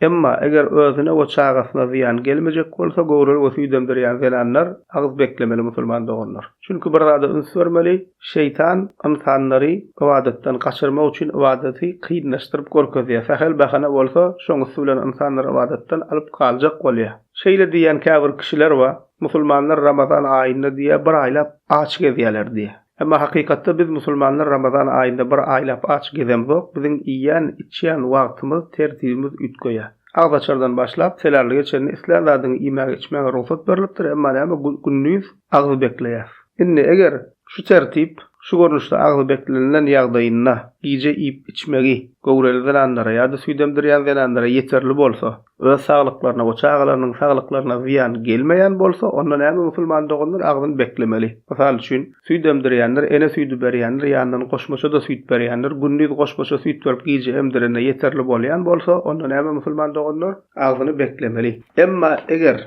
Emma, eger özüne we çagasyna zyýan gelmejek bolsa, göwreli we süýdemdirýän zenanlar agyz beklemeli musulman doganlar. Çünki bir zada üns bermeli, şeýtan ynsanlary ybadatdan gaçyrmak üçin ybadaty kynlaşdyryp görkezýär. Sähel bahana bolsa, şoň üsti bilen ynsanlary ybadatdan alyp galjak bolýar. Şeýle diýýän käbir kişiler bar, Musulmanlar Ramazan aýynda diýýär, bir aýlap aç gezýärler diýýär. Emma hakykatda biz musulmanlar Ramazan aýynda bir aýlap aç gezemzok, biziň iýýän, içýän wagtymyz, tertibimiz üýtgeýär. Agzaçardan başlap, selärlige çenli islän zadyňy iýmäge, içmäge rugsat berlipdir, emma näme gündiz agzy bekleýäs. Indi eger şu tertip şu görnüşde agzy beklenilen ýagdaýynda gije iýip-içmegi göwreli zenanlara ýa-da süýdemdirýän zenanlara ýeterli bolsa, Öz saglyklaryna we çagalarynyň saglyklaryna zyýan gelmeýän bolsa, onda näme musulman doganlar agzyn beklemeli. Mysal üçin, süýt emdirýänler, ene süýdi berýänler ýanyndan goşmaça-da süýt berýänler, gündiz goşmaça süýt berip gije emdirende ýeterli bolýan bolsa, onda näme musulman doganlar agzyny beklemeli. Emma eger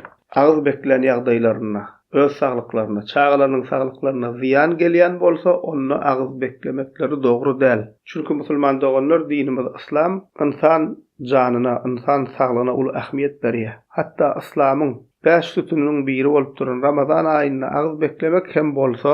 agyz beklän ýagdaýlarynda, öz saglyklaryna, çagalarynyň saglyklaryna zyýan gelýän bolsa, onda agyz beklemekleri dogry däl. Çünki, musulman doganlar, dinimiz yslam ynsan janyna, ynsan saglygyna uly ähmiýet berýär. Hatda yslamyň bäş sütüniniň biri bolup duran Ramazan aýynda agyz beklemek hem bolsa,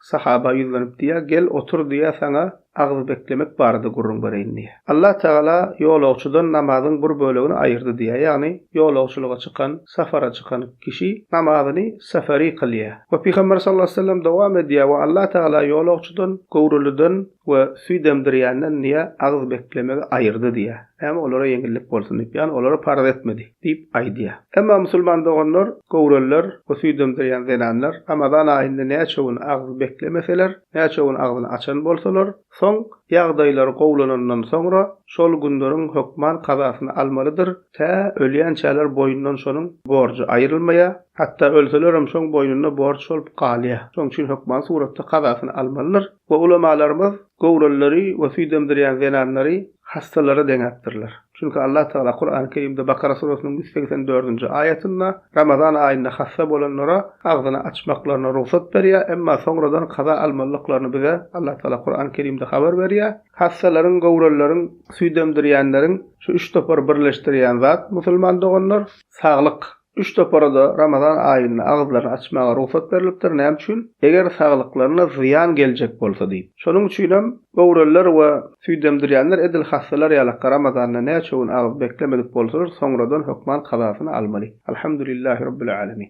Sahaba ýüzlenip diýýär, Gel, otur diýýär, saňa agzy beklemek barada gürrüň bereýin diýýär. Allah Tagala ýolagçydan namazyň bir bölegini aýyrdy diýýär, ýagny ýolagçylyga çykan, safara çykan kişi namazyny seferi kylýar. We Pygamber sallallahu aleýhi we sellem dowam edýär, We Allah Tagala ýolagçydan, göwreliden we süýt emdirýänden diýýär, agzy beklemegi aýyrdy diýýär. Näme olara ýeňillik bolsun diýip, ýagny olara parz etmedi. diýip aýdýar. Emma musulman doganlar, göwreliler we süýdemdirýän zenanlar Ramazan aýynda näçe gün agzy beklemeseler, näçe gün agzyny açan bolsalar, soň, ýagdaýlary gowulanandan soňra, şol günleriň hökman kazasyny almalydyr, tä ölýänçäler boýundan şonuň borjy aýrylmaýar, hatda ölselerem şoň boýnunda borç bolup galýar. Şonuň üçin hökman suratda kazasyny almalydyr. We ulamalarymyz göwrelileri we süýt emdirýän zenanlary hassalara deňäpdirler. Çünki Allah Tagala Kurany Kerimde Bakara surasynyň ýüz segsen dördünji aýatynda Ramazan aýynda hassa bolanlara agzyny açmaklaryna rugsat berýär, emma soňradan kaza almalydyklaryny bize Allah Tagala Kurany Kerimde habar berýär. Hassalaryň, göwrelileriň, süýt emdirýänleriň şu üç topary birleşdirýän zat, musulman doganlar, saglyk. Üç topara-da Ramazan aýynda agyzlaryny açmaga rugsat berlipdir, näme üçin? Eger saglyklaryna zyýan geljek bolsa diýip. Şonuň üçinem göwreliler we süýdemdirýänler edil hassalar ýalakka Ramazanda näçe gün agyz beklemedik bolsalar, soňradan hökman kazasyny almaly. Alhamdulillah Rabbil Alemin.